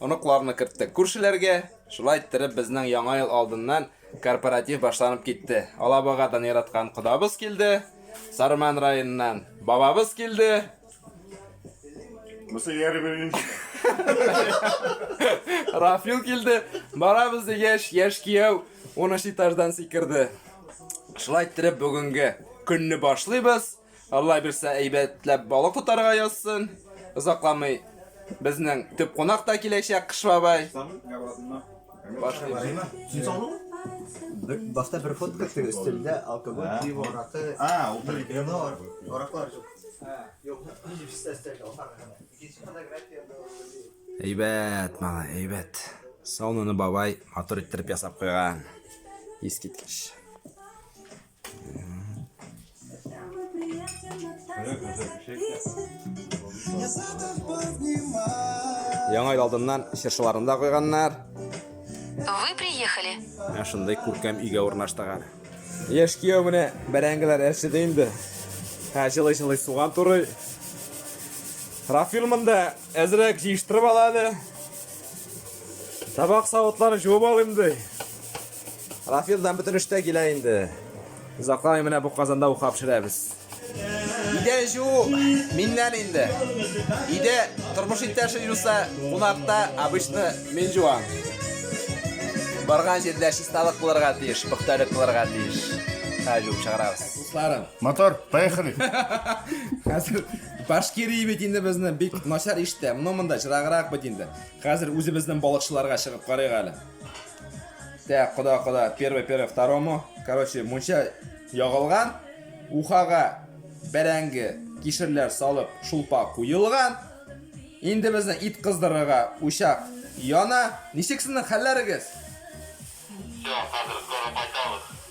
Оныкларны керттек күршеләргә. Шулай иттереп, безнең Яңа ел алдыннан корпоратив башланып китте. Алабугадан яраткан кодабыз килде, Сарман районыннан бабабыз килде. Бусы яры беренче. Рафил килде. Барабыз дигәч, яшь кияү 13 этаждан сикерде. Шулай иттереп, бүгенге көнне башлыйбыз. Алла бирсә әйбәтләп балык тотарга язсын. Озакламый безнең төп кунак та киләчәк Кыш бабай. Башлыйбыз. Башта бер фотка төшер, өстендә алкоголь, пиво, ракы, А, ул бер кино. Ораклар жоқ. Юк, җипсте өстендә алкоголь. Икенче фотография Әйбәт, малай, әйбәт. Сауныны бабай матур иттереп ясап куйган. Искиткеч. Яңа ел алдыннан чыршыларын да куйганнар. Вы приехали. Менә шундый күркәм өйгә урнаштыгар. Яшь кияү менә бәрәңгеләр әрчеде инде. Һә җылы-җылы суган турый. Рафил монда әзрәк җыештырып ала әле. Табак савытлар җуып алыйм ди. Рафил да бөтен эштә килә инде. Озакламый менә бу казанда уха пешерәбез. Идә жуу миннән инде. Идә тормыш иптәше юса, кунакта обычно мин жуам. Барган җирдә чисталык булырга тиеш, пөхтәлек булырга тиеш. Хәзер жуып чыгарабыз. Дусларым. Мотор, поехали. Хәзер Башкирия бит инде безне бик начар иштә. Моны монда чыраграк бит инде. Хәзер үзебезнең балыкчыларга чыгып карыйк әле. Так, куда, куда? Первый, первый, второму. Короче, мунча ягылган. Ухага бәрәңге, кишерләр салып, шулпа куелган. Инде безне ит кыздырырга учак яна. Ничек сезнең хәлләрегез? Все, хәзер скоро кайтабыз.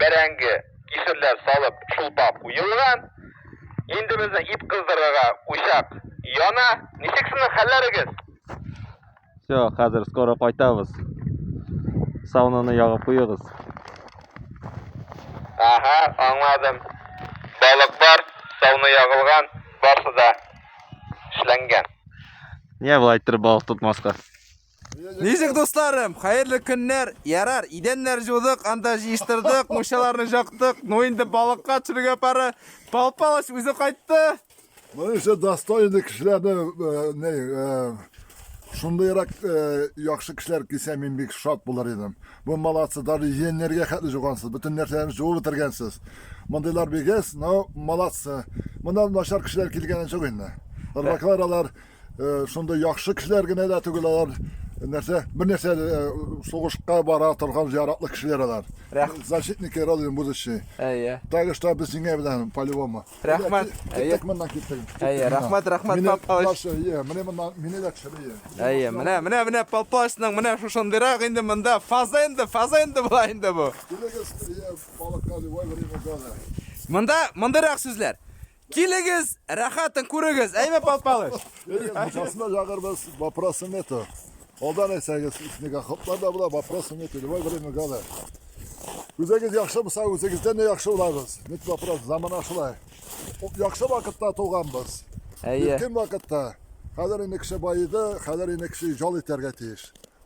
бәрәңге, кишерләр салып чулпа куелган. Инде безне ит кыздырырга учак яна. Ничек сезнең хәлләрегез? Все, хәзер скоро кайтабыз. Сауныны ягып куегыз. Ага, аңладым. Балык бар, сауны ягылган, барсы да эшләнгән. Нигә болай иттереп балык тотмаска? Ничек дусларым, хәерле көннәр. Ярар, идәннәр җудык, анда җыештырдык, мушаларны жактык. Ну инде балыкка төшерергә пары. Пал Палыч үзе кайтты. Моның өчен достойный кешеләрне э, не э, шундыйрак э, яхшы кешеләр килсә мин бик шат булыр идем. Бу молодцы, даже яннәргә хәтле жугансыз, бөтен нәрсәләрне жуып бетергәнсез. Мондыйлар бигез, но молодцы. Монда начар кешеләр килгәне юк инде. Рыбаклар алар Э, шундый яхшы кешеләр генә дә түгел алар э, нәрсә бер нәрсә э, сугышка бара торган зыяратлы кешеләр алар защитники родины будущее әйе так что без сиңа белән по любому рәхмәт әйе моннан киттек әйе рәхмәт рәхмәт папаш әйе менә моннан мине дә төшерә әйе менә менә менә папашның менә шушындыйрак инде монда фаза инде фаза инде була инде бу балыкка любой время года монда мондыйрак сүзләр Килегез, рәхәтен күрегез, әйме Пал Палыч? Мукасына җагырбыз, вопросы нету. Алдан әйтсәгез, снега хоплар да була, вопросы нету, любой время года. Үзегез яхшы булса, үзегездән дә яхшы булабыз. Ник вопрос, замана шулай. Яхшы вакытта туганбыз. Әйе. Иркен вакытта. Хәзер инде кеше баеды, хәзер инде кеше жал итәргә тиеш.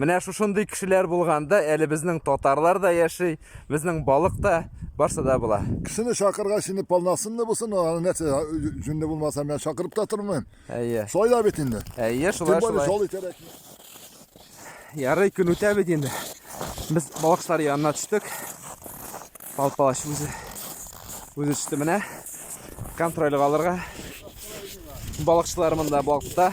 Менә шушындый кешеләр булганда, әле безнең татарлар да яши, безнең балык та, барсы да була. Кешене чакырга сине полнасынны булсын, аны нәрсә җүнле булмаса мен чакырып та тормыйм. Әйе. Шулай да бит инде. Әйе, шулай шулай. Шул итәрәк. Ярый көн үтә бит инде. Без балыкчылар янына төштек. Пал палач үзе үзе төште менә. Контрольга алырга. Балыкчылар монда балыкта.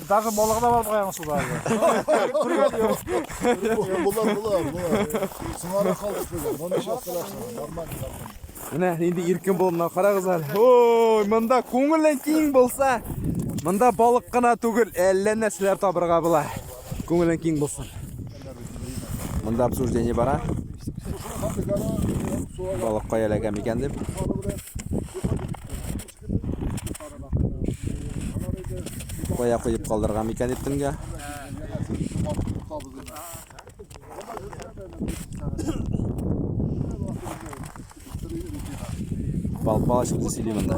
Даже балыгы да бар бугай аның суда. Күргән юк. Булар, булар, булар. Сыңарга калдык бүген. Моны нишләп кыласың? Нормаль ятам. Менә инде иркен булып мына карагыз әле. Ой, монда күңелең киң булса, монда балык кына түгел, әллә нәрсәләр табырга була. Күңелең киң булсын. Монда обсуждение бара. Балык каяләгән икән дип. Кая куеп калдырган микән дип төнгә? Бал-бал чыкты сөйли монда.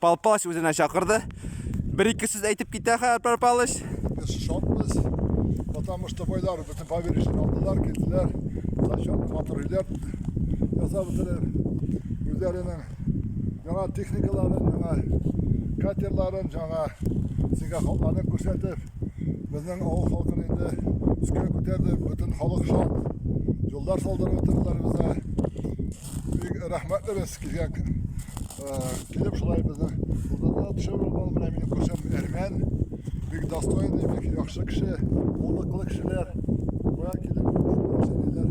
Пал Палыч үзенә чакырды. Бер-ике сүз әйтеп китә хәзер Пал Палыч. Без шатбыз, потому что байлар бөтен поверишне алдылар, килделәр. Зачетны матур өйләр ясап бетерер. Үзләренең яңа техникаларын, яңа катерларын, яңа сиңа халыкларын күрсәтеп, безнең авыл халкын инде үскә күтәрде, бөтен халык шат. Юллар салдырып бетерделәр безгә. Бик рәхмәтле без сезгә. Килеп шулай безне булдырдыгыз. Төшереп алып менә минем күршем Әрмән. Бик достойный, бик яхшы кеше, булдыклы кешеләр. Буя килеп күрсәтәләр.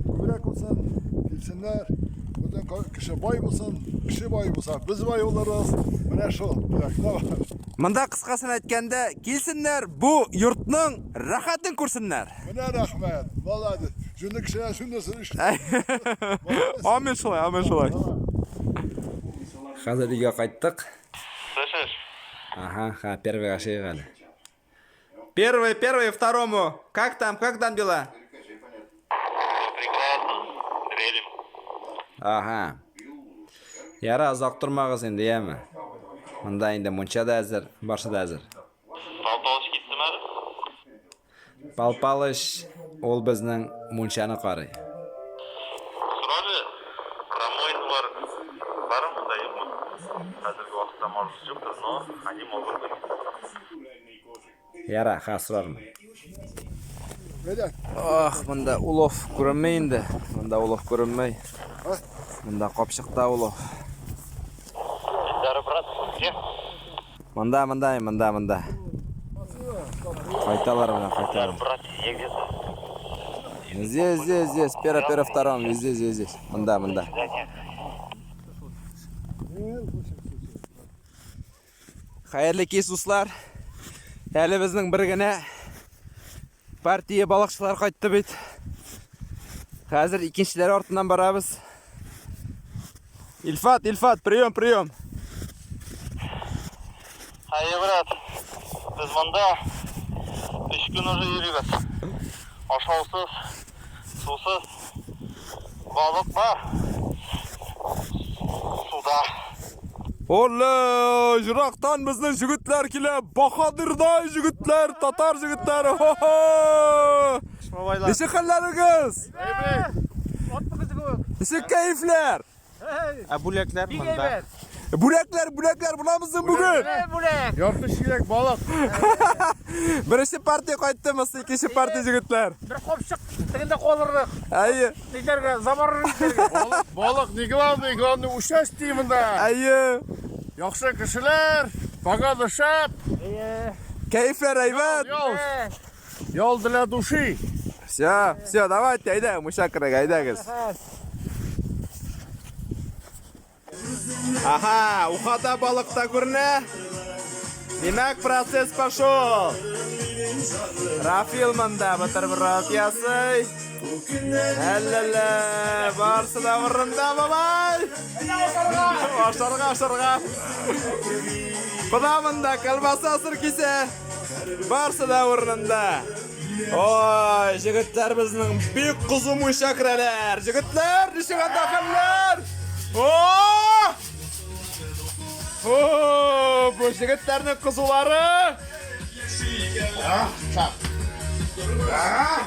Күбрәк булсын, килсеннәр. Бүтән кеше бай булсын, кеше бай булса, без бай булырбыз. Менә шул. Монда кыскасын әйткәндә, килсеннәр, бу йортның рәхәтен күрсеннәр. Менә рәхмәт, молодец. Шуны кешеләр шунысын эшләп. Амин шулай, амин шулай. Хәзер өйгә кайттык. Слышишь? Ага, ха, первый ашыйк әле. Первый, первый, второму. Как там, как там дела? Прекрасно. Дрелим. Ага. Яра, озак тормагыз инде, яме. Монда инде мунча да әзер, барсы да әзер. Пал Палыч, ул безнең мунчаны карый. Сорады, Промоидлар бармы да юкмы? Хәзерге вакытта, может быть, юктыр, но они могут быть. Ярар, хәзер сорармын. Ах, монда улов күренмәй инде. Монда улов күренмәй. Монда капчыкта улов. Монда, монда, монда, монда. Кайталар менә, кайталар. Здесь, здесь, здесь, пера, пера, втором, везде, здесь, здесь. Монда, монда. Хәерле кис, дуслар. Әле безнең бер генә Партия балыкчылар кайтты бит. Хәзер икенчеләр артыннан барабыз. Ильфат, Ильфат, прием, прием. Әйе, брат. Без монда 3 көн уже йөрибез. Ашаусыз. Сусыз балык бар. Суда. Олле, жырактан безнең җегетләр килә. Баһадирдай җегетләр, татар җегетләре. Хо-хо! Ничек хәлләрегез? Әйбәт. Ат кызы кебек. Ничек кәефләр? Ә бүләкләр Бик монда. әйбәт. Бүләкләр, бүләкләр буламызмы бүген? Ә, Бүләк. Ярты чиләк балык. Беренче партия кайттымыз, икенче партия җегетләр. Бер капчык тегендә калырлык. Әйе, Нидәргә, замарыр нидәргә. Балык, балык не главный, главный участие монда. әйе. Яхшы кешеләр, погода шәп. Әйе. Кәефләр әйбәт. Ял. Э, Ял для души. Все, все, давайте, айда, муша кырык, айдагыз. Ага, ухада балык та күренә. Димәк, процесс пошел. Рафил монда бутерброд ясый. Әлләлә, барсы да урында бабай. Ашарга, ашарга. Куда монда колбаса сыр кисә. Барсы да урынында. Ой, җегетләр безнең бик кызу муйча керәләр. Җегетләр, ничек анда хәлләр? О! О, бу җегетләрнең кызулары. А, так. А!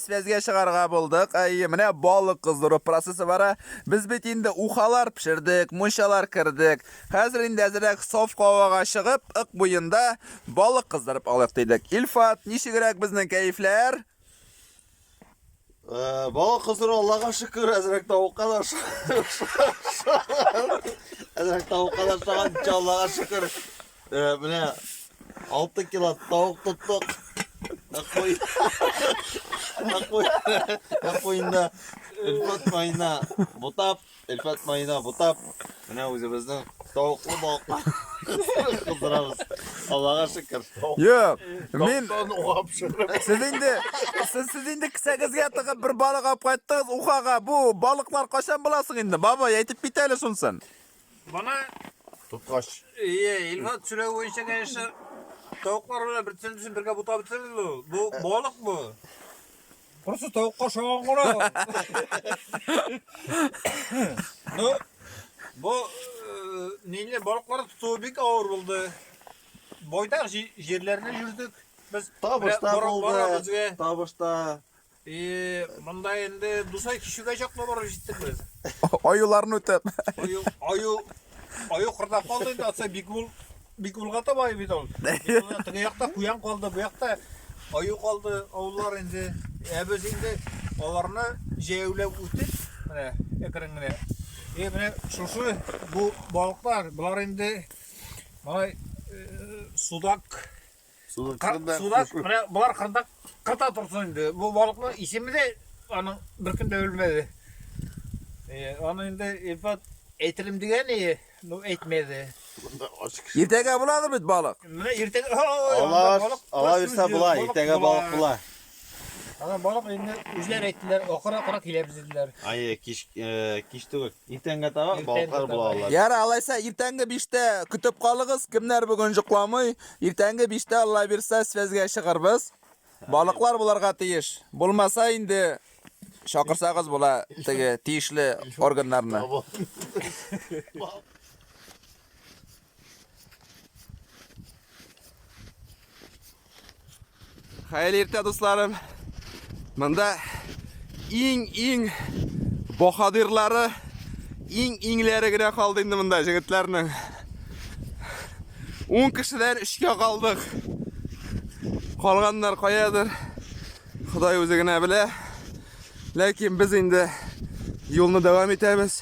Сәзгә чыгарга булдык. Әйе, менә балык кыздыру процессы бара. Без бит инде ухалар пешердек, мунчалар кердек. Хәзер инде әзерәк саф һавага чыгып, ык буенда балык кыздырып алыйк дидек. Илфат, ничегрәк безнең кәефләр? Э, балык кыздыру Аллага шөкер, әзерәк тавыкка да Әзерәк тавыкка да ошаган, Аллага шөкер. Э, менә 6 кило тавык тоттык. Акой. Акой. Акойында Элфат майына бутап, Элфат майына бутап, менә үзебезнең тавыклы балыкны кыздырабыз. Аллага шөкер. Юк, мин Сез инде сез сез инде кесәгезгә тыгып бер балык алып кайттыгыз Ухага. Бу балыклар кайчан буласың инде? Бабай әйтеп бит әле шунсын. Бана Тоткач. Ие, Илфат сүләве буенча, конечно, тавыклар белән бер төсен бергә бутап бетерелде ул. Бу балык бу. Просто тавыкка шаган гына. Ну, бу э, ниле балыклар тотуы бик авыр булды. Байтак җи- җирләрне йөрдек. Без Табыш та бара- бара булды. безгә. Табыш та И, монда инде Дусай кичүгә чаклы барып җиттек без. Аюларны үтеп. Аю, аю, аю кырда калды инде, атса бик ул, бик улга таба бит ул. Теге якта куян калды, бу якта аю калды, авыллар инде. Ә без инде аларны җәяүләп үтеп, менә әкрен генә. И, менә шушы бу балыклар, болар инде малай судак Суда менә болар кырда кырда торсын инде. Бу балыкның исеме дә аның бер көндә өлмәде. Э, аны инде Илфат әйтелем дигән ие, ну әйтмәде. Иртәгә буладыр бит балык. Менә иртәгә ала бирсә була, иртәгә балык була. Ана барып инде үзләр әйттеләр, акыра-акыра киләбез диделәр. Ай, кич, э, кич түгел. Иртәнгә таба Иртәнгә балыклар таба. була алар. Ярар, алайса иртәнге биштә көтеп калыгыз. Кемнәр бүген җокламый, иртәнге биштә Алла бирсә связьгә чыгырбыз. Балыклар буларга тиеш. Булмаса инде чакырсагыз була теге тиешле органнарны. Хәерле иртә, дусларым. Монда иң-иң баһадирлары, иң-иңләре генә калды инде монда җегетләрнең. 10 кешедән 3кә калдык. Калганнар каядыр? Ходай үзе генә белә. Ләкин без инде юлны дәвам итәбез.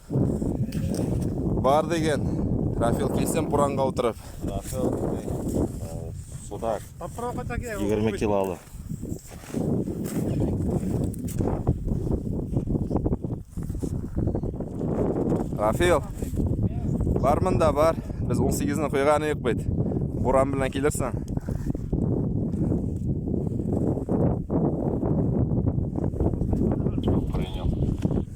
Бар деген. Рафил килсен буранга утырып. Рафил судак. Попробуй так я. 20 килолы. Рафил. Бар мында бар. Без 18-ны куйганы юк бит. Буран белән килерсең.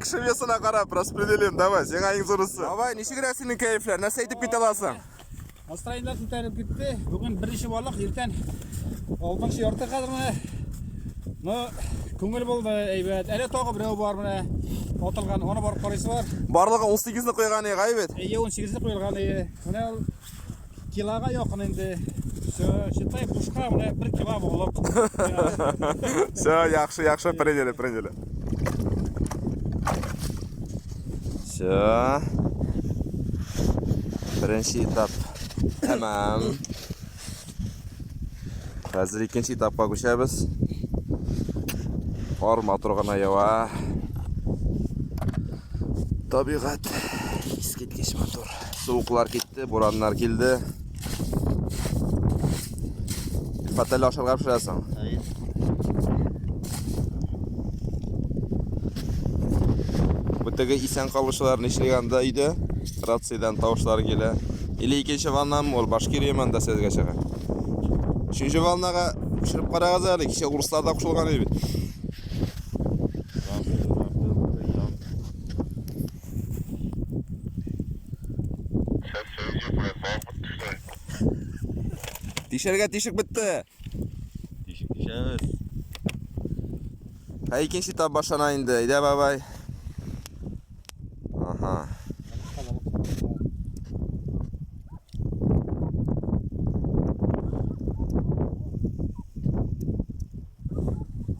Кеше весына карап распределим, давай, сиңа иң зурысы. Давай, ничек рәс синең кәефләр? Нәрсә әйтеп китә аласың? Настроениеләр күтәреп китте. Бүген беренче балык, иртән алтынчы ярты хәзер менә. Ну, күңел булды, әйбәт. Әле тагы берәү бар менә. Атылган, аны барып карыйсы бар. Барлыгы 18-не куйган иде, әйбәт. Әйе, 18-не куелган иде. Менә Килага якын инде. Все, считай, бушка менә бер кило булып. Все, яхшы, яхшы, приняли, приняли. Все. Беренче этап. Тәмам. Хәзер икенче этапка күчәбез. Кар матур гына ява. Табигать искиткеч матур. Суыклар китте, бураннар килде. Фатәле ашарга пешерәсең. Бүтеге исән калучылар нишләгән анда өйдә? Рациядән тавышлар килә. Или икенче ваннам ул башкир яманда сезгә чыга. Үшенче ваннага күчереп карагыз әле, кичә урыслар да кушылган иде бит. Тишәргә тишек бетте. Тишек тишәбез. Ә икенче тап башлана инде. Әйдә, бабай. Ага.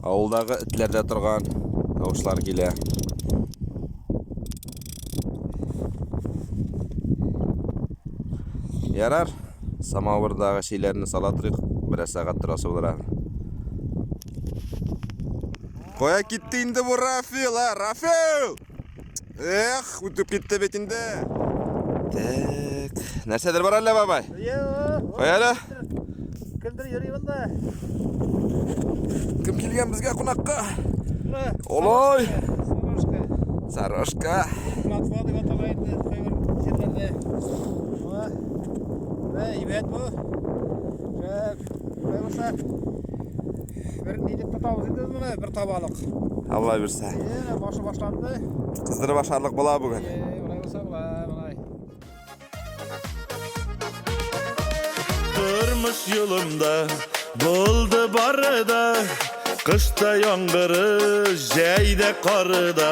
Авылдагы этләр дә торган тавышлар килә. Ярар, самавырдагы шиләрне сала торыйк, бераз сәгать торасы булыр әле. Кая китте инде бу Рафил, а? Рафил! Эх, үтеп китте бит инде. Так, нәрсәдер бар әллә бабай? Кая әле? Кемдер йөри монда. Кем килгән безгә кунакка? Олой! Сарашка. Матва дип атала инде кайбер җирләрдә. Әйбәт бу. Шәп. Кайбер Бер нидеп тотабыз инде моны, бер табалык. Алла бирсә. Әйе, башы башланды. Кыздырып ашарлык була бүген. Әйе, болай булса була, болай. Тормыш юлымда булды бары да, кышта яңгыры, җәйдә кары да.